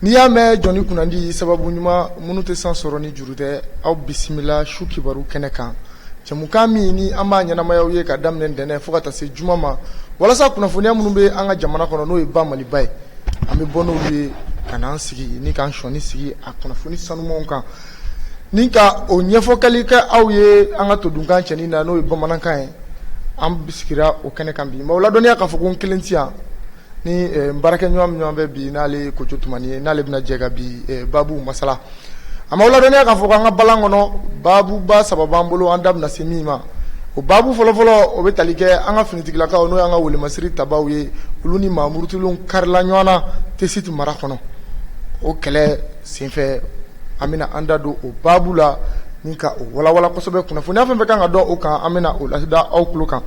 N'i y'a mɛn jɔnni kunnandi sababu ɲuman minnu tɛ san sɔrɔ ni juru tɛ aw bisimila su kibaru kɛnɛ kan jɛmukan min ni an b'a ɲɛnamaya aw ye ka daminɛ ntɛnɛn fo ka taa se juma ma walasa kunnafoniya minnu bɛ an ka jamana kɔnɔ n'o ye ba maliba ye an bɛ bɔ n'u ye ka n'an sigi ni k'an sɔɔni sigi a kunnafoni sanumanw kan ni ka o ɲɛfɔkɛli kɛ aw ye an ka todunkan cɛɲi na n'o ye bamanankan ye an bisimila o kɛnɛ kan bi n b'aw ladɔnniya k'a fɔ ko n kelen tɛ yan Ni n baarakɛɲɔgɔn min ɲɔgɔn bɛ bi n'ale ye Kojo Tumani ye n'ale bɛna jɛ ka bi babu masala an b'aw ladɔnniya k'a fɔ ko an ka balan kɔnɔ babuba saba b'an bolo an da bɛna se min ma o babu fɔlɔfɔlɔ o bɛ tali kɛ an ka finitigilakaw n'o y'an ka welemasiri tabaw ye olu ni maamurutilenw karila ɲɔgɔn na Tesiti mara kɔnɔ o kɛlɛ senfɛ an bɛna an da don o babu la ni ka o walawala kosɛbɛ kunnafoniya fɛn fɛn kan ka dɔn o kan an bɛna o lada aw tulo kan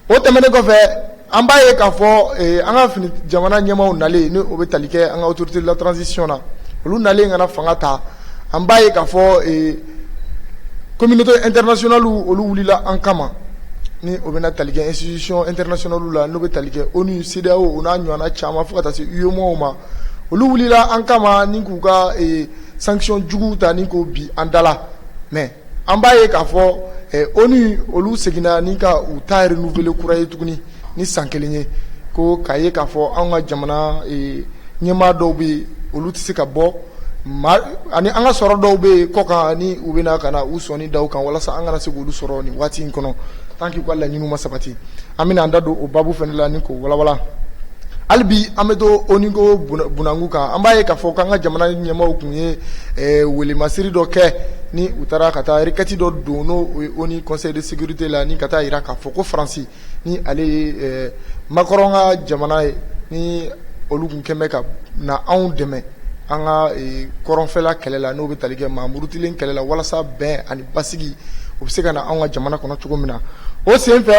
o tɛmɛnen kɔfɛ An b'a ye k'a fɔ an ka fini jamana ɲɛmaaw nalen ni o bɛ tali kɛ an ka autorité de la transition na olu nalen ka na fanga ta an b'a ye k'a fɔ communauté internationale olu wulila an kama ni o bɛna tali kɛ institution internationale la n'o bɛ tali kɛ ONU CEDEAO o n'a ɲɔgɔnna caman fo ka taa se UEMOA ma olu wulila an kama ni k'u ka sanction jugu ta ni k'o bin an da la mɛ an b'a ye k'a fɔ ONU olu seginna ni ka u ta renouveler kura ye tuguni ni san kelen ye ko k'a ye k'a fɔ an ka jamana ɲɛmaa dɔw bɛ yen olu tɛ se ka bɔ ani an ka sɔrɔ dɔw bɛ yen kɔ kan ni u bɛna ka na u sɔnni da u kan walasa an kana se k' olu sɔrɔ nin waati in kɔnɔ tant que u ka laɲini ma sabati an bɛna an da don o babu fana la ni k'o walawala hali bi an bɛ to ONU ko bunangu kan an b'a ye k'a fɔ k'an ka jamana ɲɛmaaw tun ye welemasiri dɔ kɛ ni u taara ka taa requête dɔ don n'o ye ONU Conseil de sécurité la ni ka taa jira k'a fɔ ko faransi ni ale ye makɔrɔn ka jamana ye ni olu tun kɛlen bɛ ka na anw dɛmɛ an ka kɔrɔnfɛla kɛlɛ la n'o bɛ tali kɛ maamurutilen kɛlɛ la walasa bɛn ani basigi o bɛ se ka na an ka jamana kɔnɔ cogo min na o senfɛ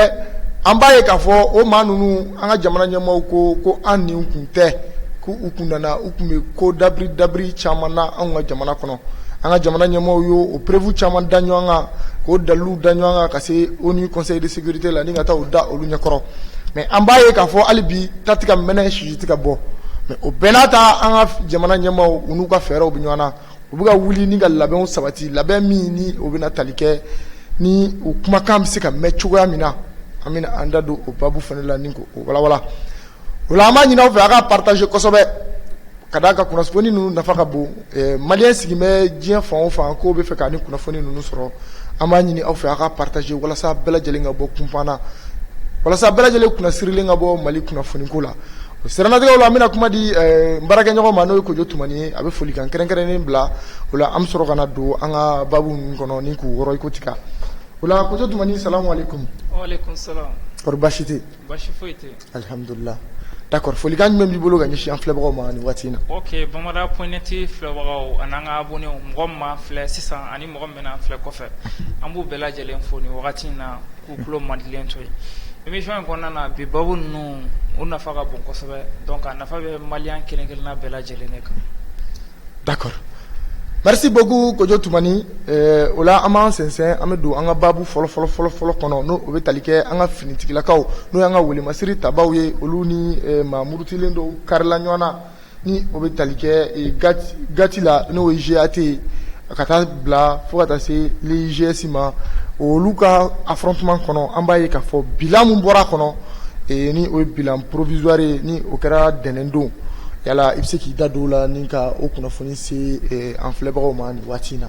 an b'a ye k'a fɔ o maa ninnu an ka jamana ɲɛmaaw ko an ni kun tɛ k'u kun nana u tun bɛ ko dabiri caman na an ka jamana kɔnɔ an ka jamana ɲɛmaaw ye o preuve caman da ɲɔgɔn kan k'o dalu da ɲɔgɔn kan ka se ONU Conseil de sécurité la ni ka taa u da olu ɲɛkɔrɔ mɛ an b'a ye k'a fɔ hali bi ta tɛ ka mɛnɛ sisi tɛ ka bɔ mɛ o bɛɛ n'a ta an ka jamana ɲɛmaaw u n'u ka fɛɛrɛw bɛ ɲɔgɔn na u bɛ ka wuli ni ka labɛnw sabati labɛn min ni o bɛna tali kɛ ni u kumakan bɛ se ka mɛn cogoya min na an bɛna an da don o babu fana la ni ka o walawala o la an b'a ɲini aw fɛ a ka partager kosɛbɛ ka d'a kan kunnafoni ninnu nafa ka bon maliyɛn sigilen bɛ diɲɛ fan o fan k'u b'a fɛ ka nin kunnafoni ninnu sɔrɔ an b'a ɲini aw fɛ a ka partager walasa bɛɛ lajɛlen ka bɔ kunfan na walasa bɛɛ lajɛlen kunnasirilen ka bɔ mali kunnafoniko la O siranatigɛ la an bɛna kuma di baarakɛɲɔgɔn ma n'o kojo tuma a bɛ folikan kɛrɛnkɛrɛnnen bila o la an bɛ sɔrɔ ka don an ka babu kɔnɔ ni k'u wɔɔrɔ ikuti ojo tuma sa samu da folikan min b'i bolo ka si filɛbagaw ma waati in na bamanan pɛti filɛbagaw ani ka bɔ mɔgɔ ma filɛ sisan ani mɔgɔ min filɛ kɔfɛ an b'u bɛɛ lajɛlen fo wagati in na K'u tulo madilen to yen émission in kɔnɔna na bi baabu ninnu u nafa ka bon kosɛbɛ donc a nafa bɛ malien kelen-kelenna bɛɛ lajɛlen ne kan d'accord merci beaucoup Kojo Tumani o la an b'an sɛnsɛn an bɛ don an ka baabu fɔlɔ fɔlɔ fɔlɔ fɔlɔ kɔnɔ n'o bɛ tali kɛ an ka finitigilakaw n'o y'an ka welemasiri tabaaw ye olu ni maa murutilen dɔw karila ɲɔgɔn na ni o bɛ tali kɛ gati la n'o ye GAT ye ka taa bila fo ka taa se l'EGS ma olu ka affrontement kɔnɔ an b'a ye k'a fɔ bilan min bɔra a kɔnɔ ni o ye bilan provisoire ye ni o kɛra ntɛnɛn don yala i bɛ se k'i da don o la ni ka o kunnafoni se an filɛbagaw ma nin waati in na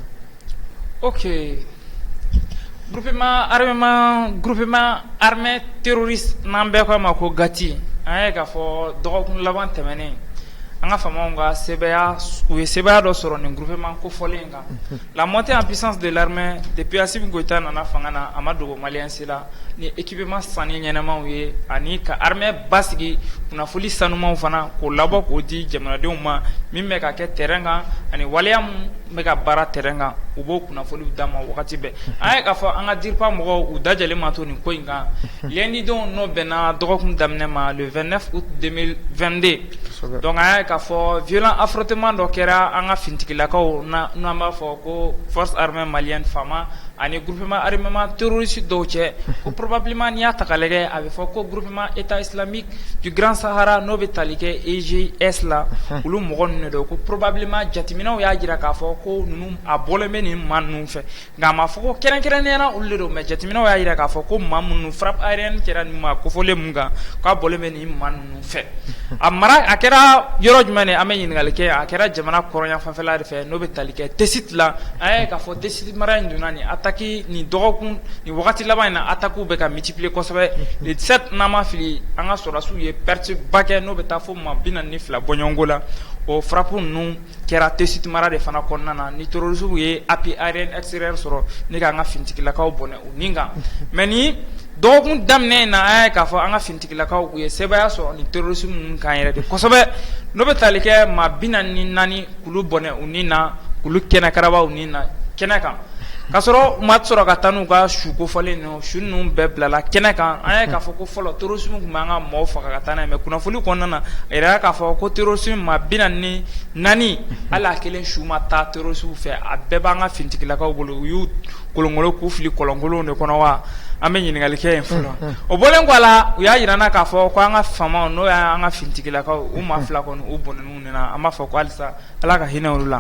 Groupement armement, groupement armé terroriste n'an bɛɛ k'a ma ko GATI an y'a ye k'a fɔ dɔgɔkun laban tɛmɛnen an ka faamaw ka sebaaya u ye sebaaya dɔ sɔrɔ nin groupement kofɔlen in kan la montée en puissance de l'armée depuis Assimi Goyita nana fanga na a ma dogo malien si la ni équipement sanni ɲɛnamaw ye ani ka armée basigi kunnafoni sanumanw fana k'o labɔ k'o di jamanadenw ma min bɛ ka kɛ terrain kan ani waleya min bɛ ka baara terrain kan u b'o kunnafoni d'a ma wagati bɛɛ an ye k'a fɔ an ka DIRPA mɔgɔw u dajalen ma to nin ko in kan lundi don n'o bɛnna dɔgɔkun daminɛ ma le 29 août 2022 donc an ye k'a fɔ violent affrontement dɔ kɛra an ka finitigilakaw n'an b'a fɔ ko force armée malienne FAMA ani groupement armement terroriste dɔw cɛ ko probablement n'i y'a ta k'a lajɛ a bɛ fɔ ko groupement état islamique du grand Sahara n'o bɛ tali kɛ EGS la olu mɔgɔ ninnu de don ko probablement jateminɛw y'a jira k'a fɔ ko ninnu a bɔlen bɛ nin maa ninnu fɛ nka a ma fɔ ko kɛrɛnkɛrɛnnenya la olu de don mais jateminɛw y'a jira k'a fɔ ko maa minnu frappe aérienne kɛra nin maa kofɔlen min kan k'a bɔlen bɛ nin maa ninnu fɛ a a kɛra yɔrɔ jumɛn de an bɛ ɲininkali kɛ a kɛra jamana kɔrɔnyanfanfɛla de fɛ n'o bɛ tali kɛ Tessit la an ye k'a fɔ Tessit mara in donna nin attaque nin dɔgɔkun nin wagati laban in na attaquew bɛ ka multiplier kosɛbɛ le 17 ni n ma fili an ka sɔrɔdasiw ye perte ba kɛ n'o bɛ taa fo maa bi naani ni fila bɔɲɔgɔnko la o frappe ninnu Kɛra Tessit mara de fana kɔnɔna na ni terroristes ye appui aérien extérieur sɔrɔ ne k'an ka finitigilakaw bɔnɛ u nin kan mais nin dɔgɔkun daminɛ in na an y'a ye k'a fɔ an ka finitigilakaw u ye sebaaya sɔrɔ ni terroristes ninnu kan yɛrɛ de kosɛbɛ n'o bɛ taali kɛ maa bi naani ni naani k'olu bɔnɛ u ni na k'olu kɛnɛkaraba u ni na kɛnɛ kan k'a sɔrɔ u ma sɔrɔ ka taa n'u ka su kofɔlen nɔ Su ninnu bɛɛ bilala kɛnɛ kan an ye k'a fɔ ko fɔlɔ terrorisme tun bɛ an ka mɔgɔw faga ka taa mɛ kunnafoni kɔnɔna na a jirala k'a fɔ ko terrorisme maa bi naani ni naani hali a kelen su ma taa terroristes fɛ a bɛɛ b'an ka finitigilakaw bolo u y'u kolonkolon k'u fili kɔlɔnkolon de kɔnɔ wa an bɛ ɲininkali kɛ yen fɔlɔ o bɔlen kɔ a la u y'a jira k'a fɔ ko an ka faamaw n'o y'an ka finitigilakaw u maa fila kɔni u bɔn an b'a fɔ ko halisa ala ka hinɛ olu la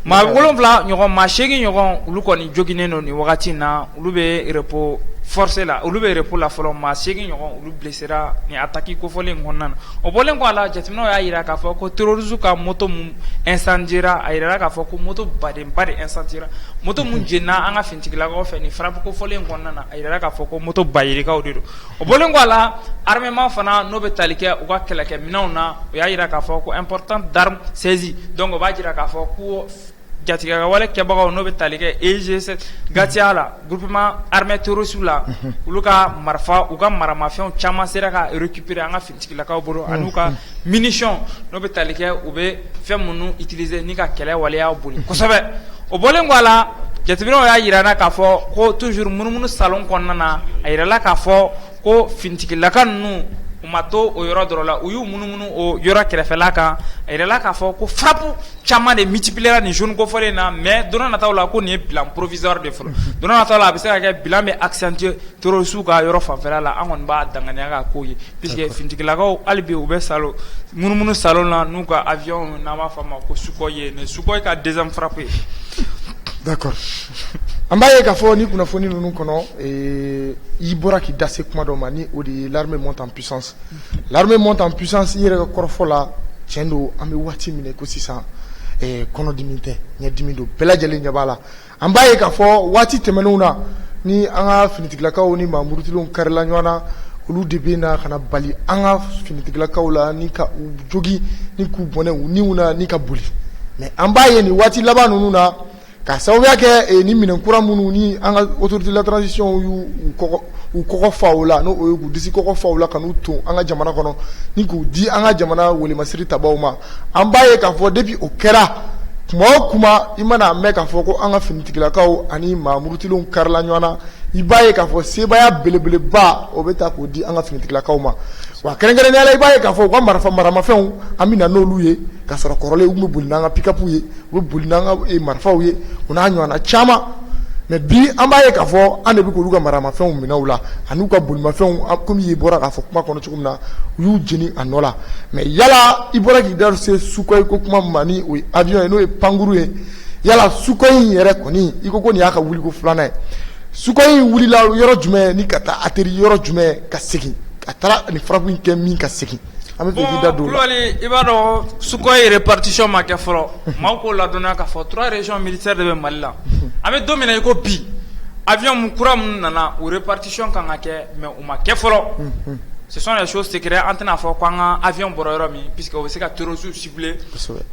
maa wolonwula ɲɔgɔn maa seegin ɲɔgɔn olu kɔni joginnen don nin wagati in na olu bɛ repos forcé la olu bɛ repos la fɔlɔ maa seegin ɲɔgɔn olu blessera nin attaque kofɔlen kɔnɔna na o bɔlen kɔ a la jateminɛw y'a jira k'a fɔ ko terroristes ka moto min incendiera a jirala k'a fɔ ko moto badenba de incendiera moto min jenina an ka finitigilakaw fɛ nin frappe kofɔlen kɔnɔna na a jirala k'a fɔ ko moto bayirikaw de don o bɔlen kɔ a la armement fana n'o bɛ taali kɛ u ka kɛlɛkɛminɛnw na o y'a jira k'a fɔ ko important d'armes saisies donc o b'a jira k'a fɔ ko jatigɛka wale kɛbagaw n'o bɛ taali kɛ EGS gatiya la groupement armé terroriste la olu ka marifa u ka maramafɛnw caman sera ka récupérer an ka Tigilakaw bolo ani u ka munition n'o bɛ tali kɛ u bɛ fɛn minnu utiliser ni ka kɛlɛ waleya boli kosɛbɛ o bɔlen kɔ a la jateminɛw y'a jira k'a fɔ ko toujours munumunu salon kɔnɔna na a jirala k'a fɔ ko finitigilaka ninnu u ma to o yɔrɔ dɔrɔn la u y'u munumunu o yɔrɔ kɛrɛfɛla kan a jirala k'a fɔ ko frappe caman de multipliera nin zone kofɔlen in na mɛ don nataw la ko nin ye bilan provisoire de fɔlɔ don nataw la a bɛ se ka kɛ bilan bɛ accentuer Terroristes ka yɔrɔ fanfɛla la an kɔni b'a danganiya k'a k'o ye puisque finitigilakaw hali bi u bɛ salon munumunu salon na n'u ka avion n'an b'a fɔ a ma ko Sukhoi ye nin Sukhoi ka deuxième frappe ye d'accord an b'a ye k'a fɔ nin kunnafoni ninnu kɔnɔ ee i bɔra k'i da se kuma dɔ ma ni o de ye l'armée monte en puissance l'armée monte en puissance i yɛrɛ ka kɔrɔfɔ la tiɲɛ don an bɛ waati min na i ko sisan ee kɔnɔdimi tɛ ɲɛdimi don bɛɛ lajɛlen ɲɛ b'a la An b'a ye k'a fɔ waati tɛmɛnenw na ni an ka finitigilakaw ni maamurutilenw karila ɲɔgɔn na olu de bɛ na ka na bali an ka finitigilakaw la ni ka u jogin ni k'u bɔnɛ u niw na ni ka boli mɛ an b'a ye nin waati laban ninnu na k'a sababuya kɛ ni minɛn kura minnu ni an ka autorité de la transition y'u kɔgɔ fa o la n'o ye k'u disi kɔgɔ fa o la ka n'u ton an ka jamana kɔnɔ ni k'u di an ka jamana welemasiri tabaw ma an b'a ye k'a fɔ depuis o kɛra kuma o kuma i mana mɛn k'a fɔ ko an ka finitigilakaw ani maamurutilenw karila ɲɔgɔn na i b'a ye k'a fɔ sebaaya belebeleba o bɛ ta k'o di an ka finitigilakaw ma wa kɛrɛnkɛrɛnnenya la i b'a ye k'a fɔ u ka marifa maramafɛnw an bɛ na n'olu ye ka sɔrɔ kɔrɔlen u tun bɛ boli n'an ka pikapu ye u bɛ boli n'an ka eh, marifaw ye u n'a ɲɔgɔnna caman mɛ bi an b'a ye k'a fɔ an de bɛ k'olu ka maramafɛnw minɛ u la an'u ka bolimafɛnw komi i bɔra k'a fɔ kuma kɔnɔ cogo na u y'u jeni a nɔ la mais yala i bɔra k'i da se Sukhoi ko kuma ma ni o ye avion ye n'o ye pankurun ye yala Sukhoi in yɛrɛ kɔni i ko ko nin y'a ka wuliko filanan ye Sukhoi in wulila yɔrɔ jumɛn ni ka taa atterrir yɔrɔ jumɛn ka segin ka taara nin frappe in kɛ min ka segin an bɛ fɛ k'i da don o la Kulubali i b'a dɔn Sukhoi répartition ma kɛ fɔlɔ maaw k'o ladɔnniya k'a fɔ 3 régions militaires de bɛ mali la an bɛ don min i ko bi avion kura minnu nana o répartition kan ka kɛ mais U ma kɛ fɔlɔ ce sont des choses secrètes an tɛna n'a fɔ ko an ka avion bɔra yɔrɔ min puisque u bɛ se ka terroristes cibler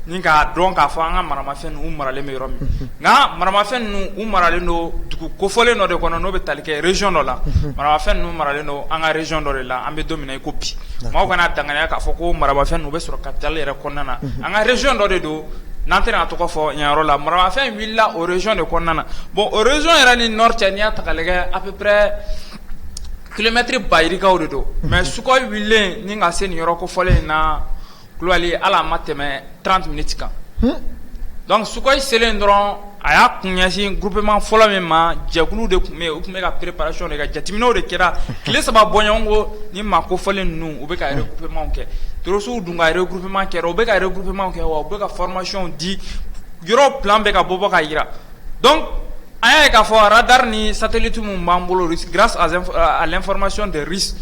ni k'a dɔn k'a fɔ an ka maramafɛnw maralen bɛ yɔrɔ min nka maramafɛn ninnu u maralen don dugu kofɔlen dɔ de kɔnɔ n'o bɛ tali kɛ région dɔ la maramafɛn ninnu maralen don an ka région dɔ de la an bɛ don min na i ko bi maaw kana daya k'a fɔ ko maramafɛn ninnu bɛ sɔrɔ capitale yɛrɛ kɔnɔna na an ka région dɔ de don n'an tɛna a tɔgɔ fɔ nin yɔrɔ la maramafɛn wulila o région de kɔnɔna na bon o région yɛrɛ ni nord cɛ n'i y'a ta k'a lajɛ à peu près kilomɛtiri ba yirikaw de don mais Sukhoi wililen ni ka se nin yɔrɔ kofɔlen in na kulubali ala ma tɛmɛ 30 minutes kan donc Sukhoi selen dɔrɔn a y'a kun ɲɛsin groupement fɔlɔ min ma jɛkulu de tun bɛ yen u tun bɛ ka préparation de kɛ jateminɛw de kɛra tile saba bɔɲɔgɔnko ni maa kofɔlen ninnu u bɛ ka regroupement kɛ terroristes dun ka regroupement kɛ u bɛ ka regroupement kɛ wa u bɛ ka formation di yɔrɔ plan bɛ ka bɔ bɔ ka jira An y'a ye k'a fɔ radari ni satellites minnu b'an bolo Russes grâce à l'information des Russes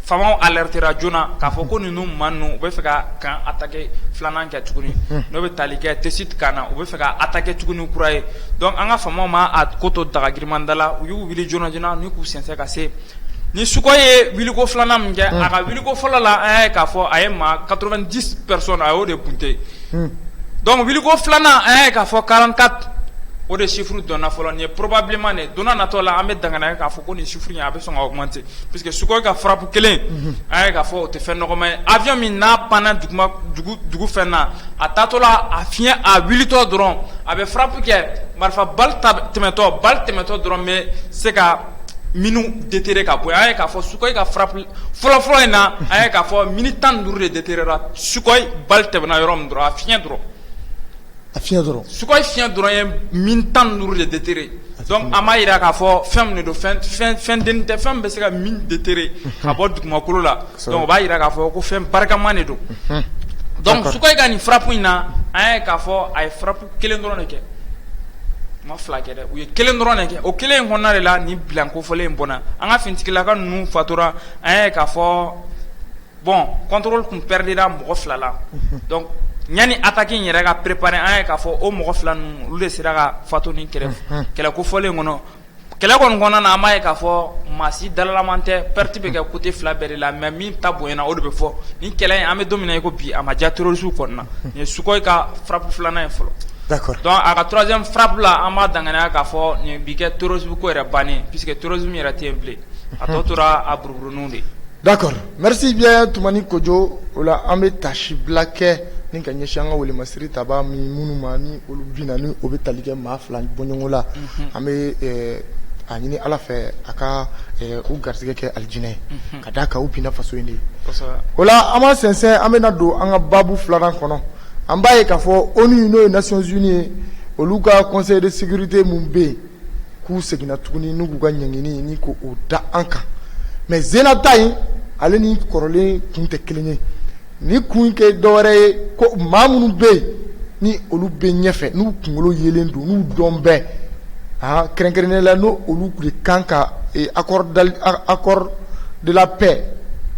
faamaw alertéra joona k'a fɔ ko ninnu maa ninnu u bɛ fɛ ka camp attaquer filanan kɛ tuguni n'o bɛ tali kɛ Tessit camp na u bɛ fɛ ka attaquer tuguni kura ye donc an ka faamaw ma a ko to daga girinman da la u y'u wuli joona joona ni k'u sɛnsɛn ka se ni Sukhoi ye wuliko filanan min kɛ a ka wuliko fɔlɔ la an y'a ye k'a fɔ a ye maa 90 personnes a y'o de bunten donc wuliko filanan an y'a ye k'a fɔ 44 o de chiffre dɔnna fɔlɔ ni ye probablement nin donna natɔ la an bɛ danna k'a fɔ ko nin chiffre ye a bɛ sɔn augmenter puisque Sukhoi ka frappe kelen an y'a ye k'a fɔ o tɛ fɛn nɔgɔman ye avion min n'a panna dugu fɛn na a taatɔla a fiɲɛ a wulitɔ dɔrɔn a bɛ frappe kɛ marifa balle tɛmɛtɔ balle tɛmɛtɔ dɔrɔn bɛ se ka mines déterrer ka bɔ yen, an y'a ye k'a fɔ sukoyi ka frappe fɔlɔ fɔlɔ in na, an y'a ye k'a fɔ mines 15 de déterréra sukoyi balle tɛmɛna yɔrɔ min dɔrɔn, a fiɲɛ dɔrɔn, a fiɲɛ dɔrɔn, sukoyi fiɲɛ dɔrɔn ye mines 15 de déterrer donc an b'a jira k'a fɔ fɛn min de don fɛn dennin tɛ fɛn min bɛ se ka mine déterrer ka bɔ dugumakolo la donc o b'a jira k'a fɔ ko fɛn barikama de don, unhun, d'accord, donc sukoyi ka nin frappe in na, an y'a ye k'a fɔ a ye frappe kelen dɔrɔn de kɛ u ma fila kɛ dɛ u ye kelen dɔrɔn de kɛ o kelen in kɔnɔna de la nin bilan kofɔlen in bɔnna an ka finitigilaka ninnu fatura an y'a ye k'a fɔ bon contrôle tun perdira mɔgɔ fila la donc yanni attaque yɛrɛ ka préparer an y'a ye k'a fɔ o mɔgɔ fila ninnu olu de sera ka fatu nin kɛlɛ kɛlɛ kofɔlen kɔnɔ kɛlɛ kɔni kɔnɔna na an b'a ye k'a fɔ maa si dalalaman tɛ perte bɛ kɛ côté fila bɛɛ de la mais min ta bonyana o de bɛ fɔ nin kɛlɛ in an bɛ don min na i ko bi a ma diya terroristew kɔni na nin ye Sukhoi ka frappe filanan ye fɔlɔ, d'accord, donc a ka troisième frappe la an b'a danganiya k'a fɔ nin bi kɛ terrorisme ko yɛrɛ bannen ye puisque terrorisme yɛrɛ tɛ yen bilen a tɔ tora a buruburuninw de ye, d'accord Merci bien Tumani Kojo o la an bɛ taasi bila kɛ ni ka ɲɛsi an ka kɛlɛ masiri tabaa mi minnu ma ni olu binna ni o bɛ tali kɛ maa fila bɔɲɔgɔn la an bɛ a ɲini ala fɛ a ka u garisɛgɛ kɛ alijinɛ ye ka d'a kan u binna faso in de ye o la an b'a sɛnsɛn an bɛna don an ka baabu filanan kɔnɔ an b'a ye k'a fɔ ONU n'o ye Nations Unies ye olu ka conseil de sécurité min bɛ yen k'u seginna tuguni n'u k'u ka ɲangini nin ko o da an kan mais nin sen na ta in ale ni kɔrɔlen kun tɛ kelen ye ni kun kɛ dɔwɛrɛ ye ko maa minnu bɛ yen ni olu bɛ ɲɛfɛ n'u kunkolo yelen don n'u dɔn bɛɛ aa kɛrɛnkɛrɛnnen la n'olu de kan ka kɛ accord de la paix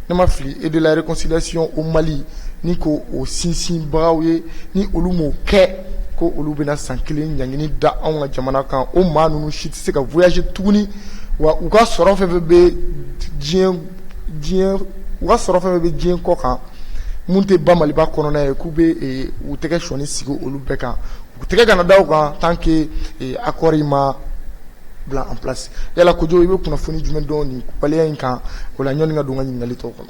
ni n ma fili et de la réconciliation au Mali nin ko o sinsinbagaw ye ni olu m'o kɛ ko olu bɛna san kelen ɲangini da anw ka jamana kan o maa ninnu si tɛ se ka voyager tuguni wa u ka sɔrɔ fɛn fɛn bɛ diɲɛ kɔ kan minnu tɛ an ba Maliba kɔnɔna ye k'u bɛ u tɛgɛ sɔɔni sigi olu bɛɛ kan u tɛgɛ kana da u kan tant que accord in ma bila en place yala Kojo i bɛ kunnafoni jumɛn dɔn nin waleya in kan o la ɲɔni ka don n ka ɲininkali tɔw kɔnɔ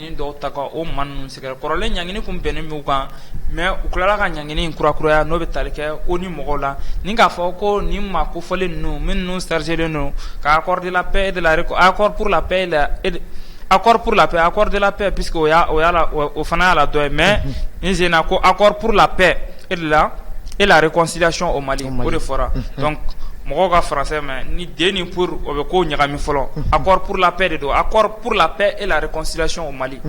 dɔw ta o man ninnu sɛgɛrɛ kɔrɔlen ɲg tun bɛnnen min kan mɛ u tilala ka ɲg in kura kuraya n'o bɛ tali kɛ o ni mɔgɔw la ni k'a fɔ ko ni ma ko fɔlen ninnu min ninnu sariselen don k'a kɔrɔdela pe dela kɔɔrila pe la a kɔrɔɔrila pe a kɔrɔɔrila pe pseke o o fana y'a la dɔ ye mɛ n sen ko a kɔrɔɔrila pe E de la e lare kɔsilac o mali o de fɔra mɔgɔw ka faransɛ ma ni den ni o bɛ ko ɲagami fɔlɔ a porourla de don a porola e lare kɔsilati o mali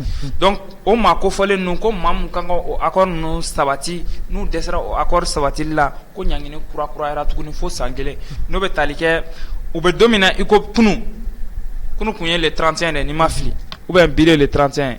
o ma ko fɔlen ninnu ko maa min kan o a ninnu sabati n'u dɛsɛsera o a kɔri sabati la ko ɲg kura kurayara tuguni fo san kelen n'o bɛ taali kɛ u bɛ don min na i ko kunun kunun tun ye tranc de ni ma fili u bɛ bi de tranc ye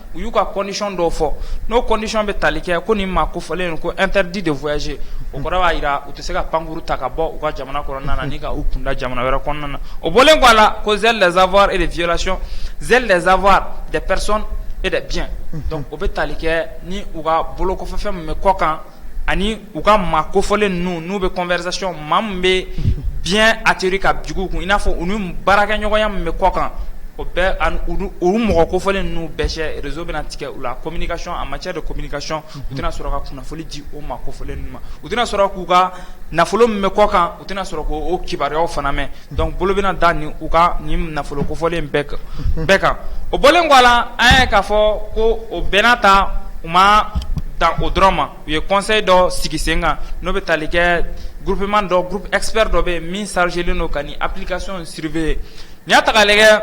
u y'u ka condition dɔw fɔ n'o condition bɛ tali kɛ ko nin maa kofɔlen ko interdit de voyager o kɔrɔ b'a jira u tɛ se ka pankurun ta ka bɔ u ka jamana kɔnɔna na ni ka u kunda jamana wɛrɛ kɔnɔna na o bɔlen kɔ a la ko gel des avoirs et de violation gel des avoirs des personnes et des biens donc o bɛ tali kɛ ni u ka bolokɔfɛfɛn min bɛ kɔkan ani u ka maa kofɔlen ninnu n'u bɛ conversation maa min bɛ diɲɛ a teri ka jugu kun i n'a fɔ u ni baarakɛɲɔgɔnya min bɛ kɔ kan o bɛɛ olu mɔgɔ kofɔlen ninnu bɛɛ cɛ réseau bɛna tigɛ u la communication en matière de communication u tɛna sɔrɔ ka kunnafoni di o maa kofɔlen ninnu ma u tɛna sɔrɔ k'u ka nafolo min bɛ kɔ kan u tɛna sɔrɔ k'o kibaruyaw fana mɛn Donc bolo bɛna da nin u ka nin nafolo kofɔlen bɛɛ kan, bɛɛ kan o bɔlen kɔ a la, an y'a ye k'a fɔ ko o bɛɛ n'a ta u ma dan o dɔrɔn ma u ye conseil dɔ sigi sen kan n'o bɛ tali kɛ groupement dɔ groupe expert dɔ bɛ yen min chargélen don ka nin application in surveiller n'i y'a ta k'a lajɛ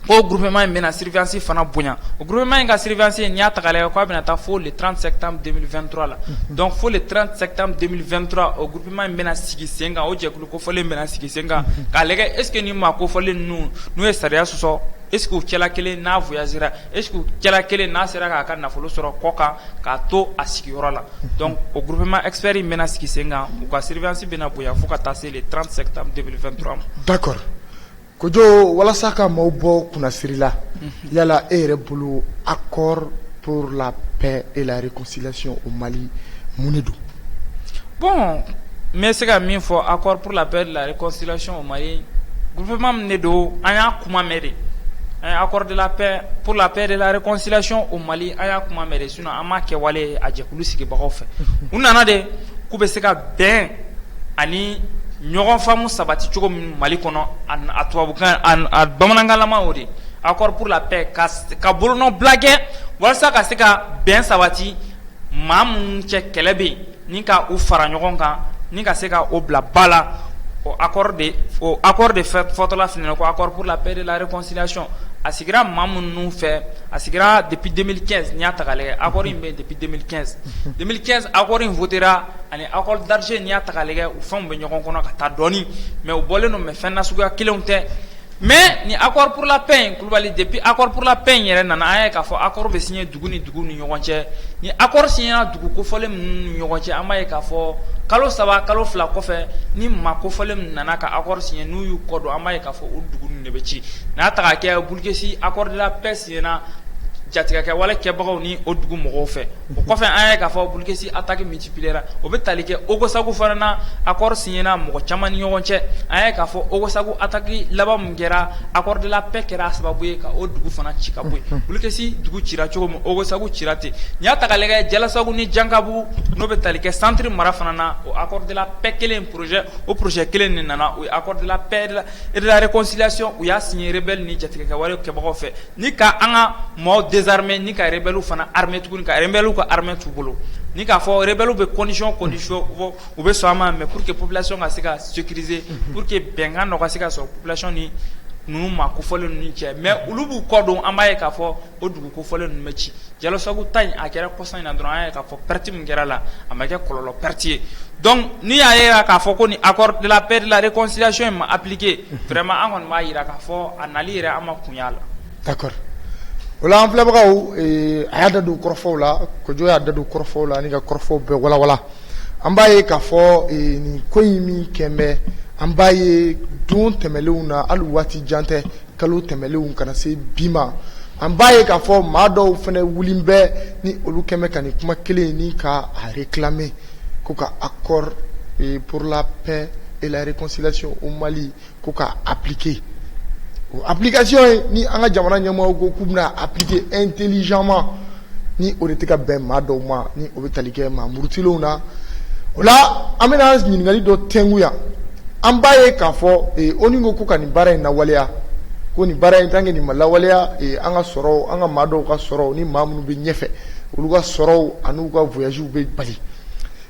O groupement in bɛna surveillance fana bonya, o groupement in ka surveillance n'i y'a ta k'a lajɛ k'a bɛna taa fo le 30 septembre 2023 la, unhun, donc fo le 30 septembre 2023 o groupement in bɛna sigi sen kan o jɛkulu kofɔlen bɛna sigi sen kan k'a lajɛ est ce que nin maa kofɔlen ninnu n'u ye sariya sɔsɔ est ce que u cɛla kelen n'a voyagera est ce que u cɛla kelen n'a sera k'a ka nafolo sɔrɔ kɔ kan k'a to a sigiyɔrɔ la donc o groupement expert in bɛna sigi sen kan u ka surveillance bɛna bonya fo ka taa se le 30 septembre 2023 ma d'accord Kojo walasa ka maaw bɔ kunnasiri la unhun yala e yɛrɛ bolo accord pour la paix et la réconciliation au Mali mun de don bon n bɛ se ka min fɔ accord pour la paix et la réconciliation au Mali groupement min de don an y'a kuma mɛn de an ye accord de la paix pour la paix et la réconciliation au Mali an y'a kuma mɛn de an m'a kɛwale a jɛkulu sigibagaw fɛ u nana de k'u bɛ se ka bɛn ani ɲɔgɔn faamu sabati cogo min mali kɔnɔ a tubabukan a bamanankanlama o de accord pour la paix ka bolonɔbila kɛ walasa ka se ka bɛn sabati maa minnu cɛ kɛlɛ bɛ yen ni ka u fara ɲɔgɔn kan ni ka se ka o bila ba la o a de aɔri de fɛ fɔtɔla f ko aɔri laprela lareksiyacon a sigira maa minnu fɛ a sigira depi denmisɛnnin kɛ n y'a ta ale aɔri in bɛ depi denmisɛnnin kɛ denmisɛnnin kɛ aɔri in fotera ani aɔri darirce n y'a ta ale u fɛnw bɛ ɲɔgɔn kɔnɔ ka taa dɔɔnini mɛ u bɔlen don mɛ fɛn na suguya kelenw tɛ Mais ni accord pour la paix in Kulubali depuis accord pour la paix in yɛrɛ nana an y'a ye k'a fɔ accord bɛ signé dugu ni dugu ni ɲɔgɔn cɛ ni accord signéra dugu kofɔlen minnu ni ɲɔgɔn cɛ an b'a ye k'a fɔ kalo saba kalo fila kɔfɛ ni maa kofɔlen min nana ka accord signé n'u y'u kɔ don an b'a ye k'a fɔ o dugu ninnu de bɛ ci n'a ta ka kɛ Bulkesi accord de la paix Signéra jatigɛkɛ wale kɛbagaw ni o dugu mɔgɔw fɛ o kɔfɛ an ye k'a fɔ Bulkesi attaque multipliera o bɛ tali kɛ Ogosagu fana na accord signéra mɔgɔ caman ni ɲɔgɔn cɛ an ye k'a fɔ Ogosagu attaque laban min kɛra accord de la paix kɛra sababu ye ka o dugu fana ci ka bɔ yen Bulkesi dugu cira cogo min Ogosagu cira ten n'i y'a ta ka lajɛ Jalasagu ni Jankabu n'o bɛ tali kɛ centre mara fana na o accord de la paix kelen projet o projet kelen de nana o ye accord de la paix Erelakɔsilati u y'a sin yɛrɛ bɛɛlɛ ni jatigi ka wale kɛbagaw fɛ ni ka an ka mɔgɔw dezrime ni ka yɛrɛ fana hame tuguni ka yɛrɛw ka hamɛ tu bolo ni k'a fɔ yɛrɛ bɛɛw bɛ kɔnsɔn kɔnsi u bɛ sɔn a ma mɛ pur que plasi ka se ka su kirie pur que bɛnkan nɔgɔ ka se ka sɔrɔ plasi ni ninnu ma ko fɔlen ninnu cɛ mɛ olu b'u kɔ don an b'a ye k'a fɔ o dugu kofɔlen ninnu bɛ ci Jalasagu ta in a kɛra kɔsa in na dɔrɔn an ye k'a fɔ perte min kɛra la a ma kɛ kɔlɔlɔ perte ye donc n'i y'a ye k'a fɔ ko ni accord de la paix de la réconciliation in ma appliquer vraiment an kɔni b'a jira k'a fɔ a nali yɛrɛ an ma kun y'a la d'accord o la an filɛbagaw a y'a da don kɔrɔfɔw la Kojo y'a da don kɔrɔfɔw la ani ka kɔrɔfɔw bɛɛ walawala an b'a ye k'a fɔ nin ko in min kɛn bɛ an b'a ye don tɛmɛlenw na hali waati jan tɛ kalo tɛmɛlenw ka na se bi ma an b'a ye k'a fɔ maa dɔw fɛnɛ wulilen bɛ ni olu kɛn bɛ ka nin kuma kelen ni ka a réclamer ko ka accord e, pour la paix et la réconciliation au Mali ko ka appliquer o application ye ni an ka jamana ɲɛmɔgɔw ko k'u bɛna appliquer intelligemment ni o de tɛ ka bɛn maa dɔw ma o bɛ tali kɛ maa murutilenw na o la an bɛna ɲininkali dɔ tɛngu yan an b'a ye k'a fɔ eh, ONU ko ko ka nin baara in lawaleya ko nin baara in tant que nin ma lawaleya eh, an ka sɔrɔw an ka maa dɔw ka sɔrɔw ni maa minnu bɛ ɲɛfɛ olu ka sɔrɔw an'u ka voyagew bɛ bali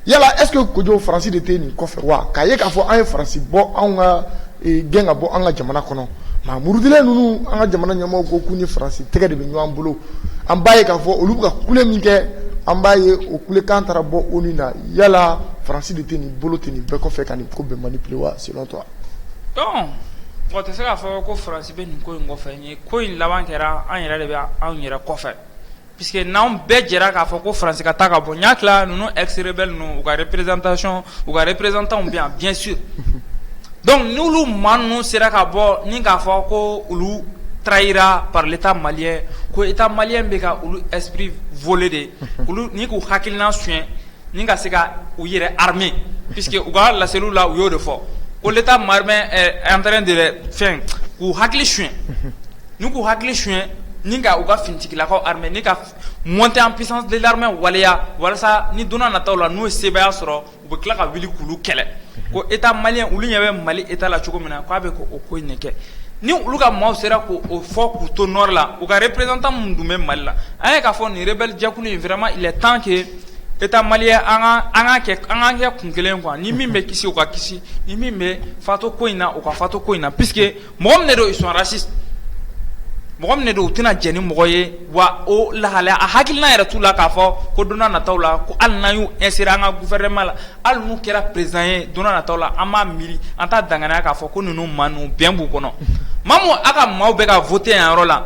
yala est ce que Kojo Faransi de tɛ nin kɔfɛ wa k'a ye k'a fɔ an ye Faransi bɔ anw ka eh, gɛn ka bɔ an ka jamana kɔnɔ Murutilen ninnu an ka jamana ɲɛmɔgɔw ko k'u ni Faransi tɛgɛ de bɛ ɲɔgɔn bolo an b'a ye k'a fɔ olu bɛ ka kule min kɛ an b'a ye o kulekan taara bɔ ONU na yala Faransi de tɛ nin bolo tɛ nin bɛɛ kɔfɛ ka nin ko bɛɛ manipuler wa selon toi donc mɔgɔ tɛ se k'a fɔ ko Faransi bɛ nin ko in kɔfɛ ni ko in laban kɛra an yɛrɛ de bɛ anw yɛrɛ kɔfɛ Puisque n'anw bɛɛ jɛra k'a fɔ ko Faransi ka taa ka bɔ, n y'a tila ninnu ex rebelles ninnu u ka représentation u ka représentants bɛ yan bien sûr donc n'olu maa ninnu sera ka bɔ ni k'a fɔ ko olu trahira par l'Etat malien ko Etat malien bɛ ka olu esprit voler de olu ni k'u hakilina suɲɛ ni ka se ka u yɛrɛ armer puisque u ka laseliw la u y'o de fɔ ko l'Etat malien est en train de fɛn k'u hakili suɲɛ Ni k'u hakili suɲɛ ni ka u ka finitigilakaw armer ni ka montée en puissance de l'armée waleya walasa ni donna nataw la n'u ye sebaaya sɔrɔ u bɛ tila ka wuli k'olu kɛlɛ ko état malien olu ɲɛ bɛ mali état la cogo min na k'a bɛ o ko in de kɛ ni olu ka maaw sera k' o fɔ k'u to nord la u ka représentant minnu tun bɛ mali la an ye k'a fɔ nin rebelle jɛkulu in vraiment il est temps que état malien an ka kɛ kun kelen quoi ni min bɛ kisi o ka kisi ni min bɛ fato ko in na o ka fato ko in na puisque Mɔgɔ min de don ils sont racistes mɔgɔ min de don u tɛna jɛ ni mɔgɔ ye wa o lahalaya a hakilina yɛrɛ t'u la k'a fɔ ko donna nataw la ko hali n'an y'u insérer an ka gouvernement la hali n'u kɛra président ye donna nataw la an b'a miiri an t'a danganiya k'a fɔ ko ninnu maa ninnu bɛn b'u kɔnɔ maa min a ka maaw bɛ ka voter yan yɔrɔ la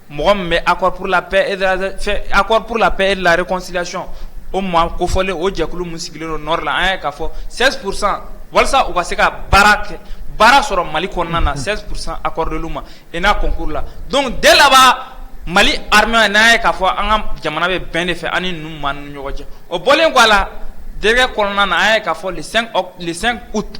mɔgɔ min bɛ accord pour la paix et de la fɛn accord pour la paix et de la réconciliation o maa kofɔlen o jɛkulu min sigilen don nord la an y'a ye k'a fɔ 16 pour cent walasa u ka se ka baara kɛ baara sɔrɔ Mali kɔnɔna na 16 pour cent accordé l'u ma ENA concours la donc dès là bas Mali armée an y'a ye k'a fɔ an ka jamana bɛ bɛn de fɛ an ni ninnu maa ninnu ni ɲɔgɔn cɛ o bɔlen kɔ a la décret kɔnɔna na an y'a ye k'a fɔ le 5 oct le 5 août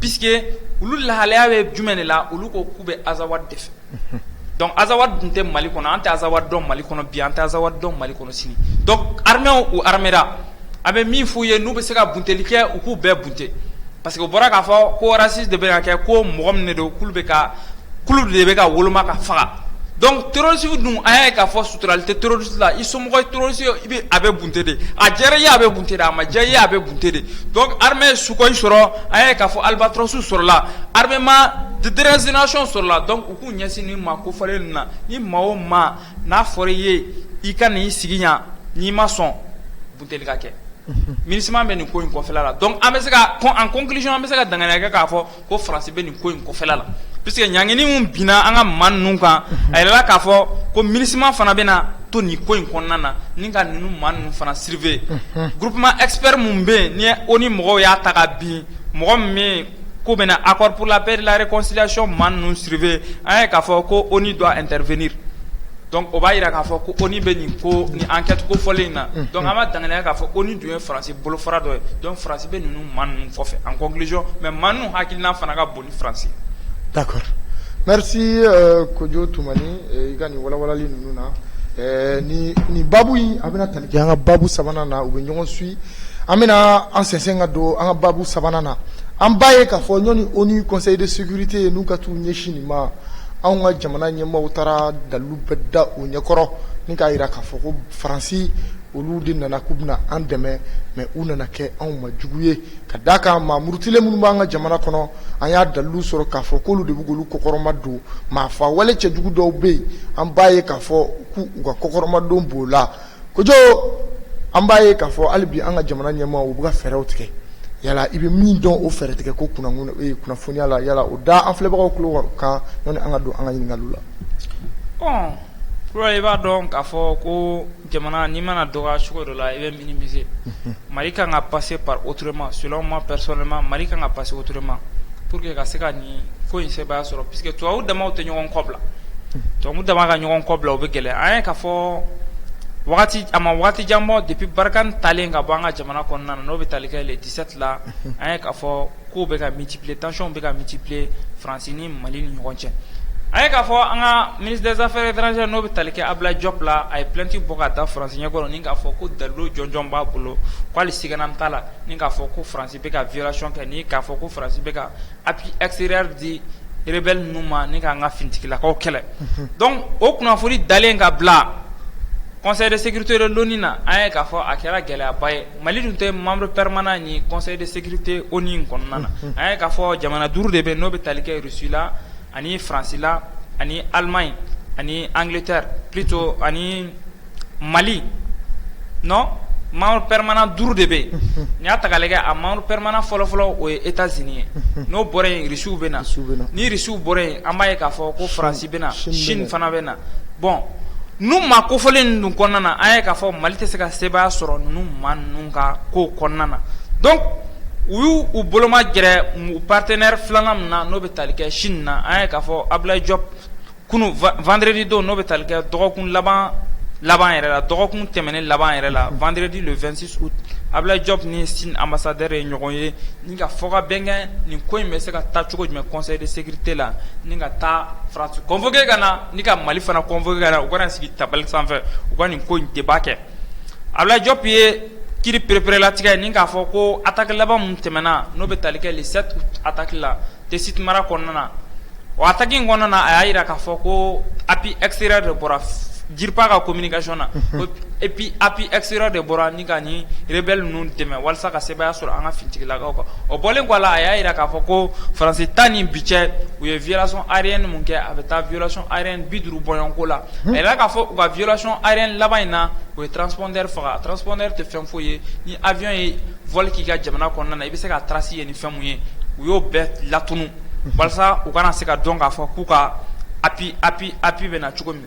Puisque olu lahalaya bɛ jumɛn de la olu ko k'u bɛ Azawad de fɛ donc Azawad dun tɛ mali kɔnɔ an tɛ Azawad dɔn mali kɔnɔ bi an tɛ Azawad dɔn mali kɔnɔ sini donc armée u armera an bɛ min f'u ye n'u bɛ se ka bunteli kɛ u k'u bɛɛ bunte parce que o bɔra k'a fɔ ko raciste de bɛ ka kɛ ko mɔgɔ min de don k'olu bɛ ka k'olu de bɛ ka woloma ka faga donc terroriste dun an y'a ye k'a fɔ suturali tɛ terroriste la i somɔgɔ ye terroriste ye i bɛ a bɛ bunte de a diyara i ye a bɛ bunte de a ma diya i ye a bɛ bunte de donc armée ye Sukhoi sɔrɔ an y'a ye k'a fɔ Albatros sɔrɔla armement déracination sɔrɔla donc u k'u ɲɛsin nin maa kofɔlen ninnu na ni maa o maa n'a fɔra i ye i ka n'i sigi yan n'i ma sɔn bunteli ka kɛ MINUSMA bɛ nin ko in kɔfɛla la donc an bɛ se ka en conclusion an bɛ se ka danganiya kɛ k'a fɔ ko Faransi bɛ nin ko in kɔfɛla la puisque ɲangini min binna an ka maa ninnu kan a yirala k'a fɔ ko MINUSMA fana bɛna to nin ko in kɔnɔna na ni ka ninnu maa ninnu fana surveiller groupement expert min bɛ yen ni ONU mɔgɔw y'a ta ka bin mɔgɔ min bɛ ko bɛna accord pour la paix et de la réconciliation maa ninnu surveiller an ye k'a fɔ ko ONU doit intervenir donc o b'a jira k'a fɔ ko ONU bɛ nin ko ni enquête kofɔlen in na donc an b'a danganiya k'a fɔ ONU dun ye Faransi bolofara dɔ ye donc Faransi bɛ ninnu maa ninnu kɔfɛ en conclusion mais maa ninnu hakilina fana ka bon ni Faransi d'accord merci Kojo Tumani i ka nin walawalali ninnu na ni babu in a bɛna tali kɛ an ka babu sabanan na u bɛ ɲɔgɔn suit an bɛna an sensen ka don an ka babu sabanan na an b'a ye k'a fɔ ɲɔni ONU conseil de sécurité n'u ka t'u ɲɛsin nin ma anw ka jamana ɲɛmaaw taara dalu bɛɛ da u ɲɛkɔrɔ ni k'a jira k'a fɔ ko faransi olu de nana k'u bɛna an dɛmɛ mais u nana kɛ anw ma jugu ye ka d'a kan maa murutilen minnu b'an ka jamana kɔnɔ an y'a dalilu sɔrɔ k'a fɔ k'olu de b'olu kɔkɔrɔmadon maafaa wale cɛjugu dɔw bɛ yen an b'a ye k'a fɔ k'u ka kɔkɔrɔmadon b'o la kojugu an b'a ye k'a fɔ hali bi an ka jamana ɲɛmaaw bɛ ka fɛɛrɛw tigɛ yala i bɛ min dɔn o fɛɛrɛ tigɛ ko kunnafoniya la yala o da an filɛbagaw tulo kan yanni an ka don an ka ɲininkaliw la i b'a dɔn k'a fɔ ko Jamana n'i mana dɔgɔya cogo dɔ la i bɛ minimiser Mali kan ka passer par autrement selon moi personnellement Mali kan ka passer autrement pour que ka se ka nin ko in sebaaya sɔrɔ puisque tubabu damaw tɛ ɲɔgɔn kɔbila tubabu dama ka ɲɔgɔn kɔbila o bɛ gɛlɛya an ye k'a fɔ a ma waati jan bɔ depuis Barkhane taalen ka bɔ an ka jamana kɔnɔna na n'o bɛ tali kɛ le 17 la an ye k'a fɔ Kow bɛ ka multiplier, tension bɛ ka multiplier France ni Mali ni ɲɔgɔn cɛ. An ye k'a fɔ an ka ministre des affaires étrangères n'o bɛ tali kɛ Abulayi Jɔp la, a ye plainte bɔ ka da France ɲɛkɔrɔ ni k'a fɔ ko dalilu jɔnjɔn b'a bolo ko hali sigana t'a la ni k'a fɔ ko France bɛ ka violation kɛ ni k'a fɔ ko France bɛ ka appui extérieur di rebelles ninnu ma ni k'an ka finitigilakaw kɛlɛ. Unhun. Donc o kunnafoni dalen ka bila Conseil de sécurité de l'ONU na, an ye k'a fɔ a kɛra gɛlɛyaba ye. Mali dun tɛ membre permanent ni Conseil de sécurité ONU kɔnɔna na an ye k'a fɔ jamana duuru de bɛ n'o bɛ tali kɛ Russie la ani France la ani Allemagne ani Angleterre plutôt ani Mali non membre permanent duuru de bɛ n'i y'a ta k'a lajɛ a membre permanent fɔlɔfɔlɔ o ye États-Unis ye n'o bɔra yen Irisiw bɛ na ni Irisiw bɔra yen an b'a ye k'a fɔ ko France bɛ na Chine fana bɛ na bon nu maa kofɔlen ninnu dun kɔnɔna na an ye k'a fɔ mali tɛ se ka sebaaya sɔrɔ ninnu maa ninnu ka ko kɔnɔna na donc u y'u boloma gɛrɛ u partenaire filanan min na n'o bɛ tali kɛ Chine na an ye k'a fɔ Abulayi Jɔp kunun vendredi don n'o bɛ tali kɛ dɔgɔkun laban laban yɛrɛ la dɔgɔkun tɛmɛnen laban yɛrɛ la vendredi le 26 août Abulayi Jɔp ni Chine ambassadeur ye ɲɔgɔn ye Ka fɔ ka bɛn kɛ nin ko in bɛ se ka taa cogo jumɛn Conseil de sécurité la ni ka taa France convoquer ka na ni ka mali fana convoquer u ka na sigi tabali sanfɛ u ka nin ko in débat kɛ Abulayi Jɔp ye kiri pereperelatigɛ ni k'a fɔ ko attaque laban min tɛmɛna n'o bɛ tali kɛ le 7 août attaque la Tessit mara kɔnɔna na o attaque in kɔnɔna na a y'a jira k'a fɔ ko appui extérieur de bɔra DIRPA ka communication na ko et puis appui extérieur de bɔra rebelles ninnu dɛmɛ walasa ka sebaaya sɔrɔ an ka finitigilakaw kan o bɔlen kɔ a la a y'a jira k'a fɔ ko France ta ni bi cɛ u ye violation aérienne minnu kɛ a bɛ taa violation aérienne bi duuru bɔɲɔgɔnko la a y'a jira k'a fɔ u ka violation aérienne laban in na u ye transpondeur faga transpondeur tɛ fɛn foyi ye ni avion ye vol k'i ka jamana kɔnɔna na i bɛ se k'a trace ye ni fɛn min ye u y'o bɛɛ latunun walasa u kana se ka dɔn k'a fɔ k'u ka appui appui appui bɛ na cogo min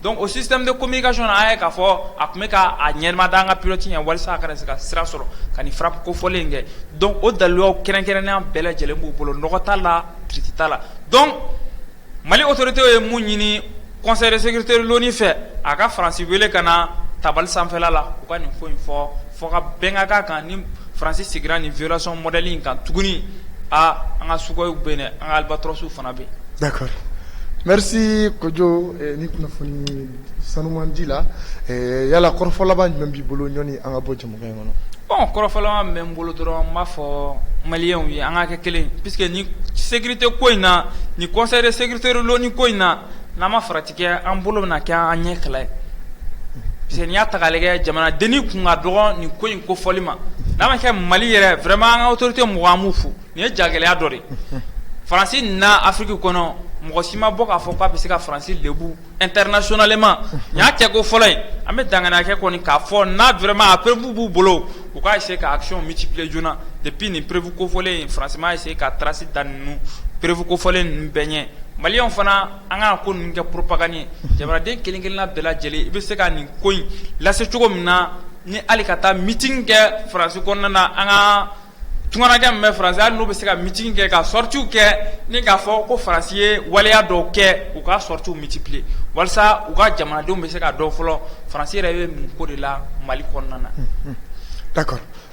Dɔnku o sisan bɛ ko' i ka sɔn a ye k'a fɔ a tun bɛ k'a ɲɛma da an ka pti ɲɛ wali a se ka sira sɔrɔ ka fara ko fɔlen kɛ dɔnku o dalu kɛrɛnkɛrɛnya bɛɛ lajɛlen b'u bolo nɔgɔ t'a la pti t'a la dɔn mali otote ye mun ɲini kɔnɛ sete fɛ a ka fasi wele ka na tabali sanfɛ la u ka nin ko in fɔ Fo ka bɛnkan k'a kan ni Faransi seginna nin violation modèle in kan tuguni, aa an ka sukɔyiw bɛ yen dɛ, an ka albatrɔsiw fana bɛ yen. D'accord merci Kojo nin kunnafoni sanuman di la, ɛ yala kɔrɔfɔ laban jumɛn b'i bolo yani an ka bɔ jɛmukan in kɔnɔ? Bon kɔrɔfɔ laban min bɛ n bolo dɔrɔn, n b'a fɔ maliɲɛw ye an ka kɛ kelen ye puisque nin sécurité ko in na, nin conseil de sécurité de l'ONU ko in na, n'an ma farati An bolo bɛna kɛ an ɲɛ kɛlɛ ye puisque n'i y'a ta k'a lajɛ jamana dennin kun ka dɔgɔ nin ko in kofɔli ma n'a ma kɛ mali yɛrɛ vraiment an ka autorité mɔgɔ an b'u fo nin ye jagɛlɛya dɔ de ye faransi na afiriki kɔnɔ mɔgɔ si ma bɔ k'a fɔ k'a bɛ se ka faransi lebu internationalement nin y'a kɛko fɔlɔ ye an bɛ dannaya kɛ kɔni k'a fɔ n'a vraiment a preuve b'u bolo u ka essayer ka action multiplier joona depuis nin preuve kofɔlen in faransi ma se ka trace da ninnu preuve kofɔlen ninnu bɛɛ ɲɛ maliyɛnw fana An ka ko ninnu kɛ propagande ye jamanaden kelen-kelenna bɛɛ lajɛlen i bɛ se ka nin ko in lase cogo min na ni hali ka taa meeting kɛ faransi kɔnɔna na an ka tungarankɛ min bɛ faransi hali n'u bɛ se ka meeting kɛ ka sortiw kɛ ni k'a fɔ ko faransi ye waleya dɔw kɛ u ka sortiw multiplier walasa u ka jamanadenw bɛ se k'a dɔn fɔlɔ faransi yɛrɛ bɛ mun ko de la mali kɔnɔna na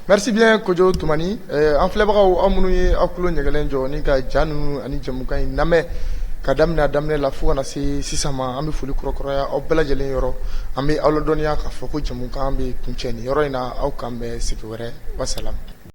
Merci bien Kojo Tumani an filɛbagaw aw minnu ye aw tulo ɲɛgɛlen jɔ ni ka ja ninnu ani jamukan in lamɛn k'a daminɛ a daminɛ la fo ka na se sisan ma an bɛ foli kura kuraya aw bɛɛ lajɛlen yɔrɔ an bɛ aw ladɔnniya k'a fɔ ko jamukan bɛ kuncɛ nin yɔrɔ in na aw k'an bɛn sigi wɛrɛ wasalam